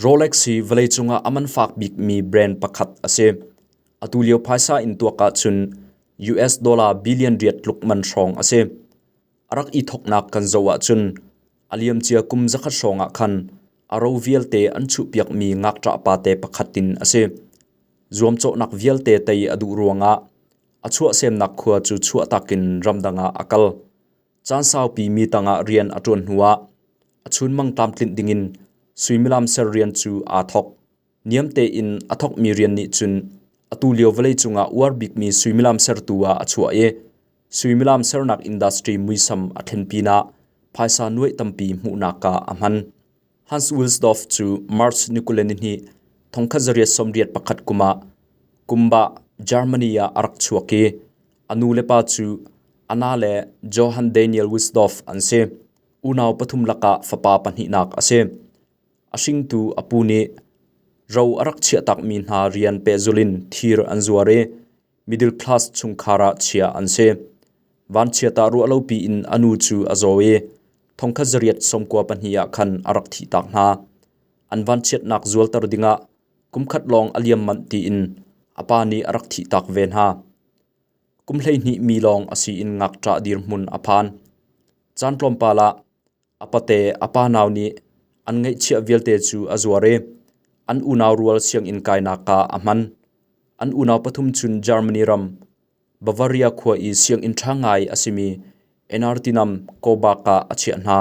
Rolex hi vawleicung ah a man fak bikmi brand pakhat a si. Atulio phaisa in tuak ahcun US dollar billion riat tluk man hrawng a si. A rak i thawknak kan zoh ahcun a liamcia kum zakhat hrawng ah khan a ro vialte an chuhpiakmi ngakṭah pate pakhat in a si. Zuamcawhnak vialte tei a duh ruangah a chuahsemnak khua cu chuahtak in ramdang ah a kal. Caan saupi mi tangah rian a ṭuan hnuah a chunmang tlamtlinh dingin suimilam ser rian cu aa thawk. Niam tein a thawkmi rian nih cun atu lio vawleicung ah uar bikmi suimilam sertu ah a chuah i suimilam sernak industry muisam a thlen pinah phaisa nuaih tampi hmuhnak ah a hman. Hans Wilsdorf cu March ni kule nihnih thongkhat zariat sawmriat pakhat kum ah Kumbah, Germany ah a rak chuak i a nu le pa cu a na le Johann Daniel Wilsdorf an si. Unau pathum lakah fapa pahnihnak a si. A hringtu a pu nih ro a rak chiahtakmi hna rian pehzulh in thir an zuar i middle class chungkhar ah chiah an si. Vanchiatah ruah lopi in a nu cu a zaw i thongkhat zariat sawmkua pahnih ah khan a rak thih tak hna. An vanchiatnak zualter dingah kumkhat lawng a liam manh tiin a pa nih a rak thih tak ve hna. Kum hleihnih mi lawng a si in ngakṭah dirhmun a phan. Caan tlawmpal ah A pate a pa nau nih an ngeihchiah vialte cu a zuar i an unau rual sianginn kainak ah a hman. An unau pathum cun Germany ram Bavaria khua i sianginn ṭha ngai a simi Enartinam Kobak ah a chiah hna.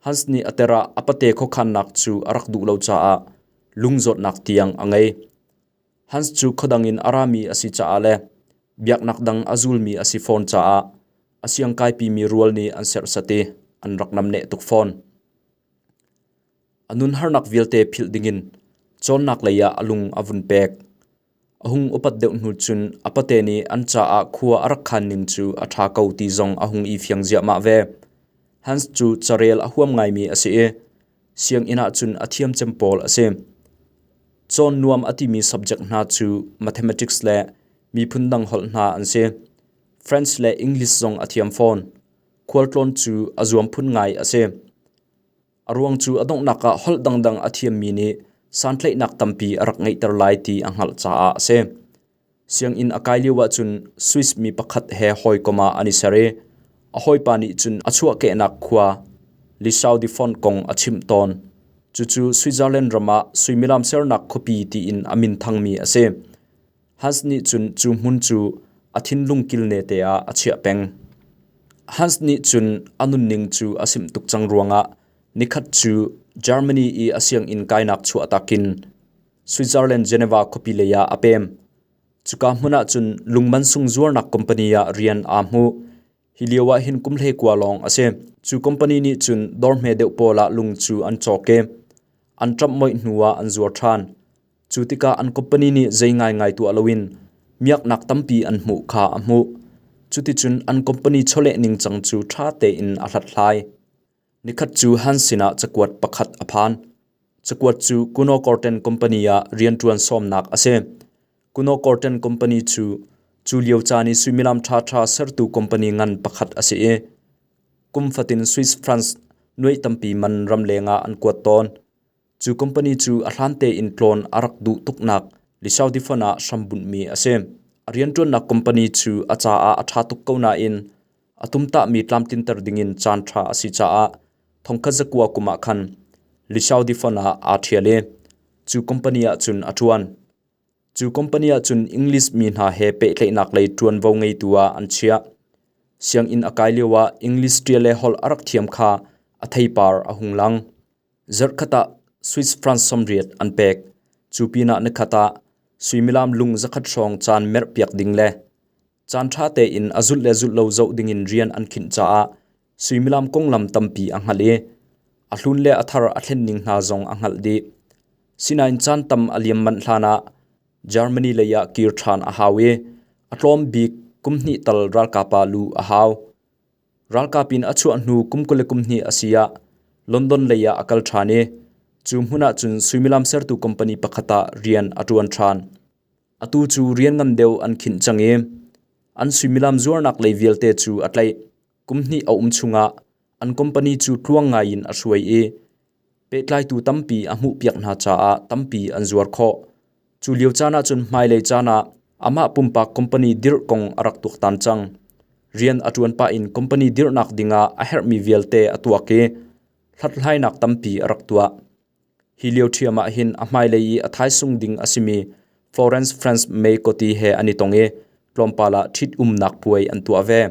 Hans nih a tir ah a pate khuakhannak cu a rak duh lo caah lungzawtnak tiang a ngei. Hans cu khuadang in a rami a si caah le biaknak dang a zulmi a si fawn caah a siangkaipimi rual nih an serhsat i an rak namneh tuk fawn. A nun harnak vialte philh dingin cawnnak lei ah a lung a vun pek. A hung upat deuh hnu cun a pate nih an caah khua a rak khan ning cu a ṭha ko ti zong a hung i fiang ziahmah ve. Hans cu carel a huam ngaimi a si i Sianginn ahcun a thiamcem pawl a si. Cawn nuam a timi subject hna cu mathematics le miphun dang holh hna an si. French le English zong a thiam fawn. Khualtlawn cu a zuam phun ngai a si. A ruang cu a donghnak ah holh dangdang a thiammi nih santlaihnak tampi a rak ngeihter lai ti a hngalh caah a si. Sianginn a kai lioah cun Swiss mi pakhat he hawikom ah an i ser i a hawipa nih cun a chuahkehnak khua Lisaudifont kong a chimh tawn. Cucu Switzerland ram ah suimilam sernak khuapi tiin a minthangmi a si. Hans nih cun cu hmun cu a thinlung kilnete ah a chiah peng. Hans nih cun a nunning cu a simh tuk cang ruangah nikhat cu Germany i a sianginn kainak chuahtak in Switzerland Geneva khuapi lei ah a pem. Cuka hmun ah cun lung mansung zuarnak company ah rian aa hmu. Hi lio ah hin kum hlei kua lawng a si. Cu company nih cun dorhme deuh pawl ah lung cu an cawk i an ṭamh moih hnu ah an zuar ṭhan. Cu tikah an company nih zei ngaingai tuah loin miaknak tampi an hmuh kha a hmuh. Cuticun an company chawleh ningcang cu ṭha tein a hlathlai. Nikhat cu Han sinah cakuat pakhat a phan. Cakuat cu Kuno Korten Company ah rianṭuan sawmnak a si. Kuno Korten Company cu cu lio caan i suimilam ṭhaṭha sertu company ngan pakhat a si i kum fatin Swiss franc nuaih tampi man ram lengah an kuat tawn. Cu company cu a hlan tein tlawn a rak duh tuknak Lisaudifon ah hrambunhmi a si. A rianṭuannak company cu a caah a ṭha tuk ko nain a tumtahmi tlamtlinter dingin caanṭha a si caah thongkhat zakua kum ah khan Lisaudifon ah aa ṭhial i cu company ah cun a ṭuan. Cu company ah cun English mi hna he pehtlaihnak lei ṭuanvo ngeitu ah an chiah. Sianginn a kai lioah English ṭial le holh a rak thiam kha a theipar a hung lang. Zarhkhat ah Swiss franc sawmriat an pek. Cu pinah nikhat ah suimilam lung zakhat hrawng caan merhpiak ding le caan ṭha tein a zulh le zulh lo zoh dingin rian an khinh caah suimilam konglam tampi a hngalh i a hlun le a thar a thlen ning hna zong a hngalh dih. Sinain caan tam a liam manh hlanah Germany leiah kir ṭhan a hau i a tlawm bik kum hnih tal ralkapa lu a hau. Ralkap in a chuah hnu kum kul le kum hnih a si ah London lei ah a kal ṭhan i cu hmun ahcun suimilam sertu company pakhat ah rian a ṭuan ṭhan. Atu cu rian ngan deuh an khinh cang i an suimilam zuarnak lei vialte cu a tlaih. Kum hnih a um chung ah an company cu tluang ngai in a hruai i Pehtlaitu tampi a hmuhpiak hna caah tampi an zuar khawh. Cu lio caan ahcun hmailei caan ah amah pumpak company dirh kong a rak tuaktan cang. Rian a ṭuan pah in company dirhnak dingah a herhmi vialte a tuak i hlathlainak tampi a rak tuah. Hi lio ṭhiam ah hin a hmailei i a thaisung ding a simi Florence France May koti he an i tong i tlawmpal ah ṭhitumnak puai an tuah ve.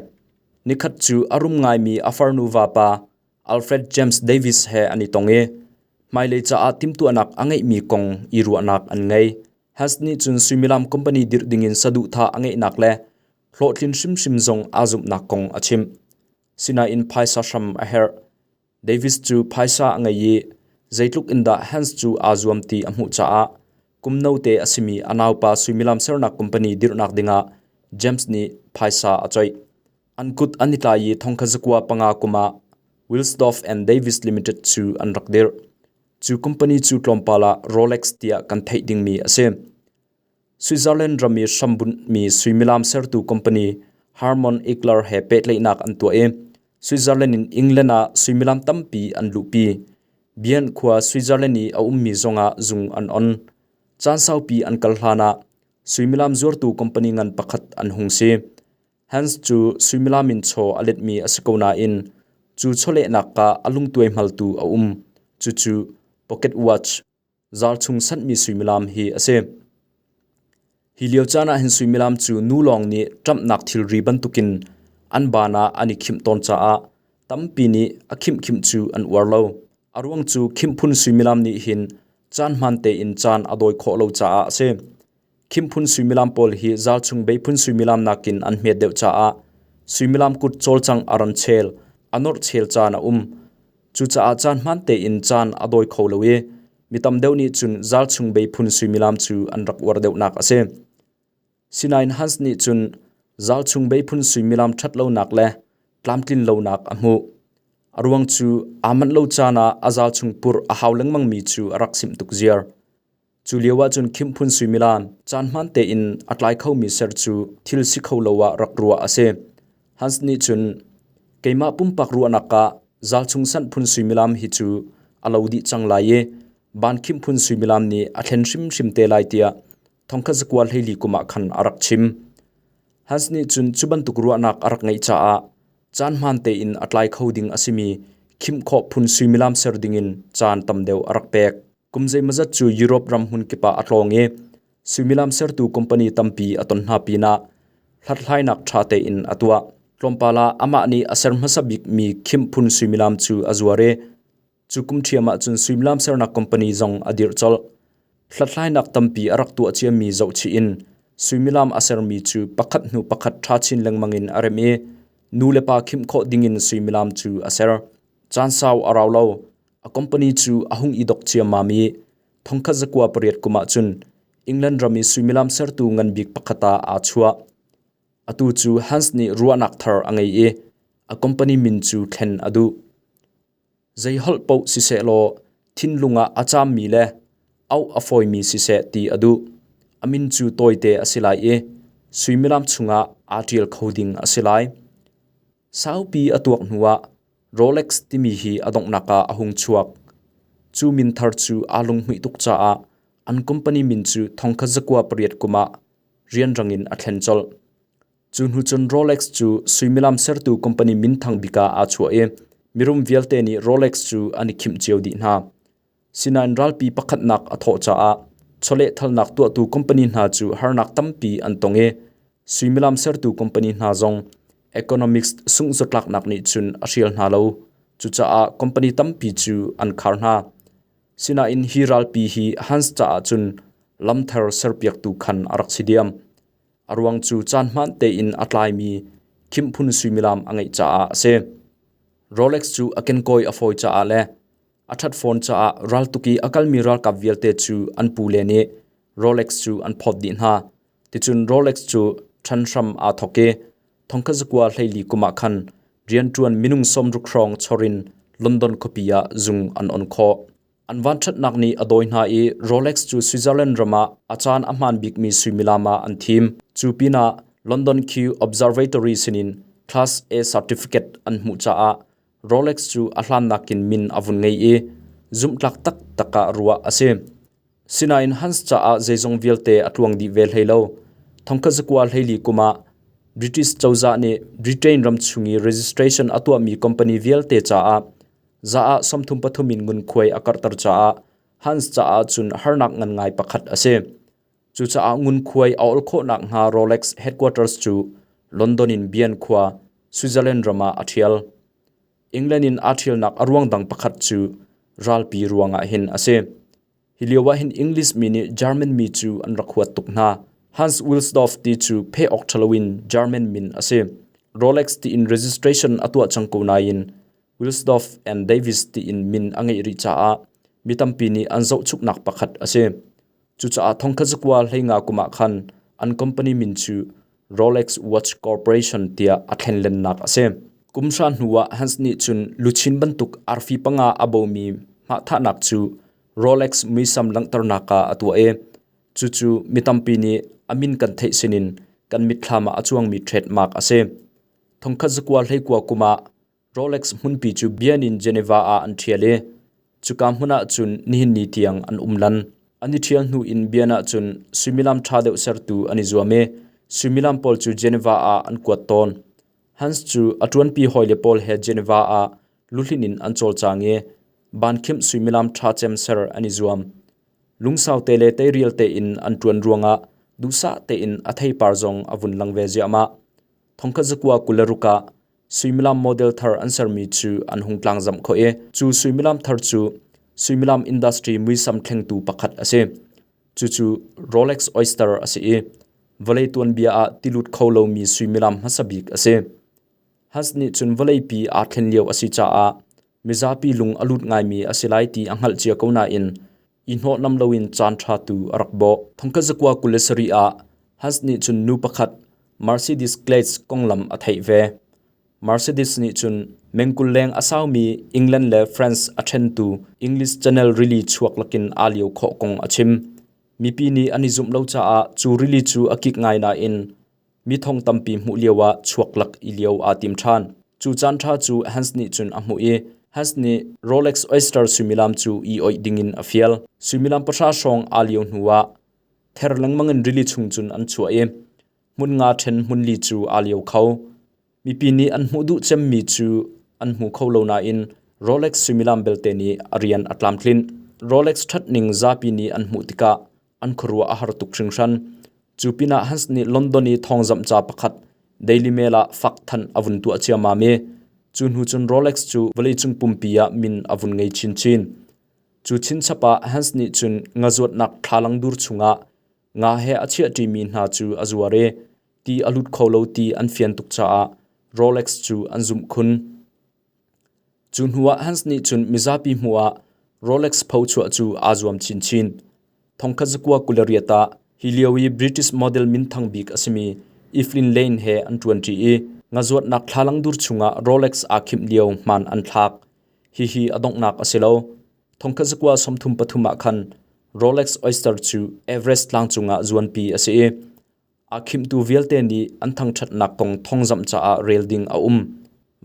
Nikhat cu a rum ngaimi a farnu vapa Alfred James Davis he an i tong i hmailei caah timhtuahnak a ngeihmi kong i ruahnak an ngei. Hess nih cun suimilam company dirh dingin saduhthah a ngeihnak le hlawhtlin hrimhrim zong aa zumhnak kong a chim. Sinain phaisa hram a herh. Davis cu phaisa a ngei i zeitluk in dah Hess cu aa zuam ti a hmuh caah kum note a simi a naupa suimilam sernak company dirhnak dingah James nih phaisa a coih. An kut an i tlai i thongkazakua panga kum ah Wilsdorf and Davis Limited cu an rak dirh. Cu company cu tlawmpal ah Rolex tiah kan theih dingmi a si. Switzerland ram i hrambunhmi suimilam sertu company Harmon Egler he pehtlaihnak an tuah i Switzerland in England ah suimilam tampi an luhpi. Bien khua Switzerland i a ummi zongah zung an on. Caan saupi an kal hlanah suimilam zuartu company ngan pakhat an hung si. Hans cu suimilam in chaw a letmi a si ko nain cu chawlehnak ah a lungtuai hmaltu a um. Cucu pocket watch, zaar chung sanhmi suimilam hi a si. Hi lio caan ah hin suimilam cu nu lawng nih ṭamhnak thilri bantukin an ban ah an i khimh tawn caah tampi nih a khimhkhimh cu an uar lo. A ruang cu khimhphun suimilam nih hin caan hmaan tein caan a dawi khawh lo caah a si. Khimphun suimilam pawl hi zalchung beiphun suimilam nakin an hmet deuh caah suimilam kut cawlcang a ran chel, a nawrh chel caan a um. Cucaah caan hmaan tein caan a dawi kho lo i mi tam deuh nih cun zalchung beiphun suimilam cu an rak uar deuhnak a si. Sinain Hans nih cun zalchung beiphun suimilam ṭhat lonak le tlamtlin lonak a hmuh. A ruang cu aa manh lo caan ah a zalchung purh a hau lengmangmi cu a rak simh tuk ziar. Cu lio ahcun Khimphun suimilam caan hmaan tein a tlai khomi ser cu thil si kho lo ah rak ruah a si. Hans nih cun keimah pumpak ruahnak ah Zalchung Sanh phun suimilam hi cu a lo dih cang lai i Ban Khimphun suimilam nih a thlen hrimhrim te lai tiah thongkhat zakua hleili kum ah khan a rak chim. Hans nih cun cu bantuk ruahnak a rak ngeih caah caan hmaan tein a tlai kho ding a simi khimh khawh phun suimilam ser dingin caan tam deuh a rak pek. Kum zeimazat cu Europe ram hmun kip ah a tlawng i suimilam sertu company tampi a ton hna pinah hlathlainak ṭha tein a tuah. Tlawmpal ah amah nih a ser hmasa bikmi khim phun suimilam cu a zuar i cu kum ṭhiam ah cun suimilam sernak company zong a dirh colh. Hlathlainak tampi a rak tuah ciami zohchih in suimilam a sermi cu pakhat hnu pakhat ṭha chin lengmang in a rem i nu le pa khimh khawh dingin suimilam cu a ser. Caan sau a rau lo. A company cu a hung i dok ciammam i thongkhat zakua pariat kum ah cun England ram i suimilam sertu ngan bik pakhat ah aa chuah. Atu cu Hans nih ruahnak thar a ngei i a company min cu thlen a duh. Zei holh paoh siseh law thinlung ah a caammi le auh a fawimi siseh ti a duh. A min cu tawite a si lai i suimilam chungah aa ṭial kho ding a si lai. Saupi a tuak hnuah Rolex timi hi a donghnak ah a hung chuak. Cu min thar cu aa lunghmuih tuk caah an company min cu thongkhat zakua pariat kum ah rianrang in a thlen colh. Cu hnu cun Rolex cu suimilam sertu company minthang bik ah aa chuah i mirum vialte nih Rolex cu an i khimh cio dih hna. Sinain ralpi pakhatnak a thawh caah chawlehthalnak tuahtu company hna cu harnak tampi an tong i suimilam sertu company hna zong economics sungzawtlaknak nih cun a hrial hna lo. Cucaah company tampi cu an khar hna. Sinain hi ralpi hi Hans caah cun lamthar serpiaktu khan a rak si diam. A ruang cu caan hmaan tein a tlaimi khimphun suimilam a ngeih caah a si. Rolex cu a kenkawi a fawi caah le A ṭhat fawn caah raltuk i a kalmi ralkap vialte cu an pule nih Rolex cu an phawt dih hna. Ticun Rolex cu ṭhan hram aa thawk i thongkhat zakua hleili kum ah khan rianṭuan minung sawmruk hrawng chawr in London khuapi ah zung an on khawh. An vanṭhatnak nih a dawi hna i Rolex cu Switzerland ram ah a caan a hmaan bikmi suimilam ah an thim. Cu pinah London Q Observatory sinin class A certificate an hmuh caah Rolex cu a hlan nakin min a vun ngei i zumhtlak taktak ah ruah a si. Sinain Hans caah zeizong vialte a tluang dih ve hlei lo. Thongkhat zakua hleili kum ah British cozah nih Britain ram chung i registration a tuahmi company vialte caah za ah sawmthum pathum in ngunkhuai a karhter caah Hans caah cun harnak ngan ngai pakhat a si. Cucaah ngunkhuai a ol khawh nakhnga Rolex headquarters cu London in Bian khua, Switzerland ram ah a ṭhial. England in aa ṭhialnak a ruang dang pakhat cu ralpi ruangah hin a si. Hi lioah hin English mi nih German mi cu an rak huat tuk hna. Hans Wilsdorf ti cu pheh awk ṭhalo in German min a si. Rolex tiin registration a tuah cang ko nain Wilsdorf and Davis tiin min a ngeih rih caah mi tampi nih an zohchuknak pakhat a si. Cucaah thongkhat zakua hleinga kum ah khan an company min cu Rolex Watch Corporation tiah a thlenlennak a si. Kum hra hnu ah Hans nih cun luchin bantuk arfi panga a bomi hmahthahnak cu Rolex muisam langhternak ah a tuah i cucu mi tampi nih a min kan theih sinin kan mitthlam ah a cuangmi threadmark a si. Thongkhat zakua hleikua kum ah Rolex hmunpi cu bian in Geneva ah an ṭhial i cuka hmun ah cun nihin ni tiang an um lan. An i ṭhial hnu in bian ah cun suimilam ṭha deuh sertu an i zuam i suimilam pawl cu Geneva ah an kuat tawn. Hans cu a ṭuanpi hawile pawl he Geneva ah luhlin in an cawlcang i bankhimh suimilam ṭha cem ser an i zuam. Lungsau te le teirial tein an ṭuan ruangah duhsah tein a theipar zong a vun lang ve ziahmah. Thongkhat zakua kul le ruk ah Suimilam model thar an sermi cu an hung tlangzamh khawh i cu suimilam thar cu suimilam industry muisam thlengtu pakhat a si. Cucu Rolex oyster a si i vawlei tuanbia ah ti lut kho lomi suimilam hmasa bik a si. Hans nih cun vawleipi aa thlen lio a si caah mizapi lung a lut ngaimi a si lai ti a hngalh cia ko nain i hnawhnam loin caan ṭha tu a rak bawh. Thongkhat zakua kul le sarih ah Hans nih cun nu pakhat Mercedes Glades konglam a theih ve. Mercedes nih cun mengkul leng a saumi England le France a ṭhentu English Channel rili chuak lakin aa lio khawh kong a chim. Mipi nih an i zumh lo caah cu rili cu a kik ngai nain Mi thong tampi hmuh lioah chuaklak i lio aa tim ṭhan. Cu caan ṭha cu Hans nih cun a hmuh i Hans nih Rolex oyster suimilam cu i oih dingin a fial. Suimilam pahra hrawng aa lio hnuah ther lengmang in rili chung cun an chuah i hmun nga ṭhen hmun li cu aa lio kho. Mipi nih an hmuh duh cemmi cu an hmu kho lo nain Rolex suimilam belte nih a rian a tlamtlinh. Rolex ṭhatning zapi nih an hmuh tikah an khuaruah a har tuk hringhran. Cu pinah Hans nih London i thawngzamh ca pakhat Daily Mail ah fak thanh a vun tuah ciammam i cu hnu cun Rolex cu vawleicung pumpi ah min a vun ngei chinchin. Cu chinchap ah Hans nih cun ngazuatnak thlalang dur chungah Nga he a chiaṭimi hna cu a zuar i ti a lut kho lo ti an fian tuk caah Rolex cu an zumh khun. Cu hnuah Hans nih cun mizapi hmuhah Rolex phochuah cu aa zuam chinchin. Thongkhat zakua kul a riat ah hi lio i British model minthang bik a simi Evelyn Lane he an ṭuanṭi i nga zuatnak thlalang dur chungah Rolex aa khimh lio hmaan an thlak. Hihi a donghnak a si lo. Thongkhat zakua sawmthum pathum ah khan Rolex oyster cu Everest tlang cungah zuanpi a si i aa khimtu vialte nih an thangṭhatnak kong thawngzamh caah rel ding a um.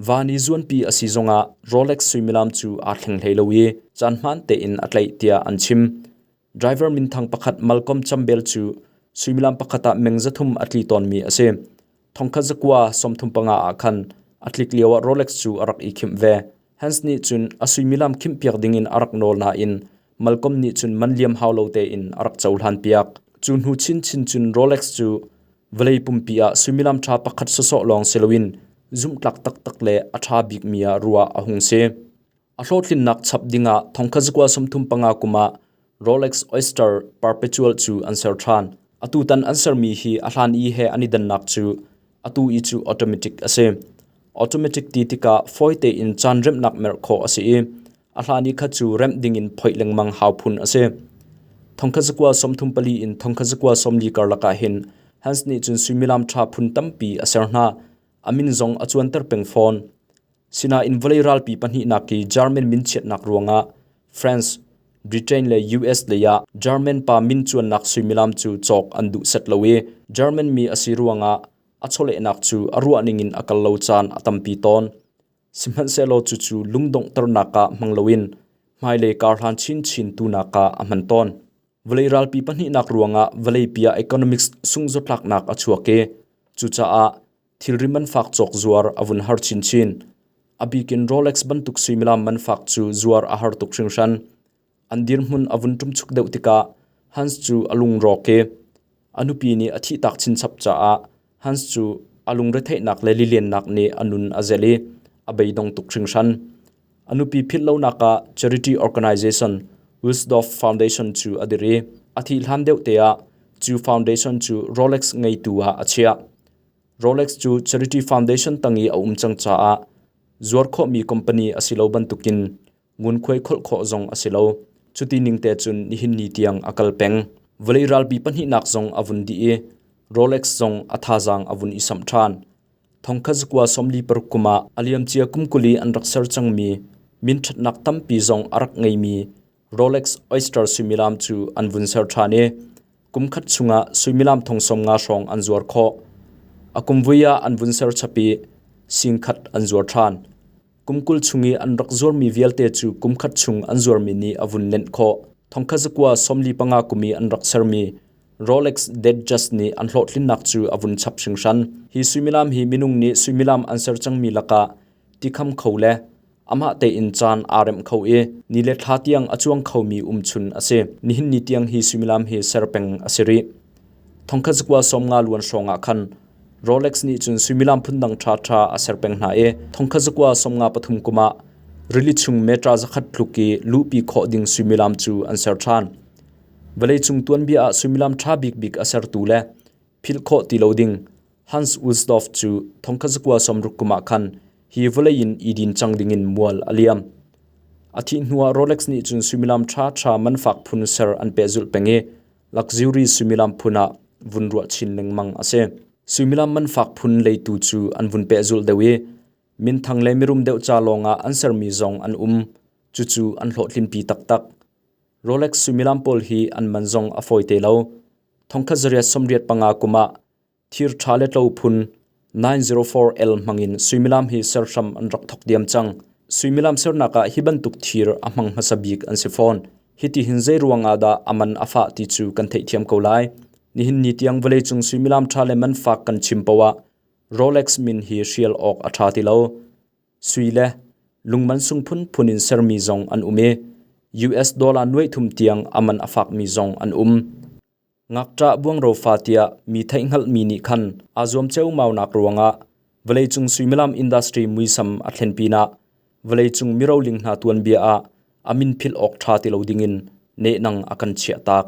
Van i zuanpi a si zongah Rolex suimilam cu aa thleng hlei lo i caan hmaan tein a tlaih tiah an chim. Driver minthang pakhat Malcolm Chambel cu suimilam pakhat ah meng zathum a tli tawnmi a si. Thongkhat zakua sawmthum panga ah khan a tlik lioah Rolex cu a rak i khimh ve. Hans nih cun a suimilam khimhpiak dingin a rak nawl nain Malcolm nih cun man liam hau lo tein a rak cohlanpiak. Cu hnu chinchin cun Rolex cu vawlei pumpi ah suimilam ṭha pakhat sawsawh lawng si loin zumhtlak taktak le a ṭha bikmi ah ruah a hung si. A hlawhtlinnak chap dingah thongkhat zakua sumthum panga kum ah Rolex Oyster Perpetual cu an ser ṭhan. Atu tan an sermi hi a hlan i he an i dannak cu atu i cu automatic a si. Automatic ti tikah fawi tein caan remnak merh khawh a si i a hlan i khat cu remh dingin phoih lengmang hau phun a si. Thongkhat zakua sawmthum pali in thongkhat zakua sawmli karlak ah hin Hans nih cun suimilam ṭha phun tampi a ser hna. A min zong a cuanter peng fawn. Sinain vawlei ralpi pahnihnak hi German min chiatnak ruangah France, Britain le US leiah German pa min cuannak suimilam cu cawk an duh set lo i German mi a si ruangah a chawlehnak cu a ruahning in a kal lo caan a tampi tawn. Sihmanhsehlaw cucu lungdonghternak ah hmang loin hmailei karhlan chinchin tunak ah a hman tawn. Vawlei ralpi pahnihnak ruangah vawleipi ah economics sungzawtlaknak a chuak i cucaah Thilrim an fak cawk zuar a vun har chinchin. A bikin Rolex bantuk suimilam man fak cu zuar a har tuk hringhran. An dirhmun a vun ṭumchuk deuh tikah Hans cu a lungrawk i a nupi nih a thihtak chinchap caah Hans cu a lungretheihnak le liliannak nih a nun a zelh i a beidong tuk hringhran. A nupi philhlonak ah charity organisation Wildorf Foundation cu a dir i a thih hlan deuhte ah cu foundation cu Rolex ngeitu ah a chiah. Rolex cu charity foundation tang i a um cang caah zuar khawhmi company a si lo bantukin ngunkhuai kholh khawh zong a si lo. Cuti ning te cun nihin ni tiang a kal peng. Vawlei ralpi pahnihnak zong a vun dih i Rolex zong a thazaang a vun i samh ṭhan. Thongkhat zakua sawmli paruk kum ah a liamcia kum kuli an rak ser cangmi min ṭhatnak tampi zong a rak ngeimi Rolex oyster suimilam cu an vun ser ṭhan i kum khat chungah suimilam thong sawmnga hrawng an zuar khawh. A kum vui ah an vun ser chap i sing khat an zuar ṭhan. Kum kul chung i an rak zuarmi vialte cu kum khat chung an zuarmi nih a vun lenh khawh. Thongkhat zakua sawmli panga kum i an rak sermi Rolex Datejust nih an hlawhtlinnak cu a vun chap hringhran. Hi suimilam hi minung nih suimilam an ser cangmi lakah tikham kho le amah tein caan aa remh kho i ni le thla tiang a cuang khomi umchun a si. Nihin ni tiang hi suimilam hi ser peng a si rih. Thongkhat zakua sawm nga luan hrawngah khan Rolex nih cun suimilam phundang ṭhaṭha a ser peng hna i thongkhat zakua sawmnga pathum kum ah rili chung metra zakhat tluk i luhpi khawh ding suimilam cu an ser ṭhan. Vawleicung tuanbia ah suimilam ṭha bikbik a sertu le philh khawh ti lo ding Hans Ullsdorf cu thongkhat zakua sawmruk kum ah khan hi vawlei in i din cang dingin mual a liam. A thih hnuah Rolex nih cun suimilam ṭhaṭha man fak phun ser an pehzulh peng i Luxury suimilam phun ah vun ruah chin lengmang a si. Suimilam man fak phun leitu cu an vun pehzulh deuh i minthang le mirum deuh ca lawng ah an sermi zong an um. Cucu an hlawhtlinpi taktak. Rolex suimilam pawl hi an man zong a fawi te lo. Thongkhat zariat sawmriat panga kum ah thir ṭha le tlo phun 904L hmangin suimilam hi serhram an rak thawk diam cang. Suimilam sernak ah hi bantuk thir a hmang hmasa bik an si fawn. Hiti hin zei ruangah dah aman a fah ti cu kan theih thiam ko lai. Nihin ni tiang vawleicung suimilam ṭha le man fak kan chim poah Rolex min hi hrial awk a ṭha ti lo. Sui le lungman sung phun phun in sermi zong an um i US dollar nuai thum tiang aman a fakmi zong an um. Ngakṭah buangro fa tiah mi theihhngalhmi nih khan aa zuam ceumaunak ruangah vawleicung suimilam industry muisam a thlen pinah vawleicung miroling hna tuanbia ah a min philh awk ṭha ti lo dingin nehnang a kan chiahtak.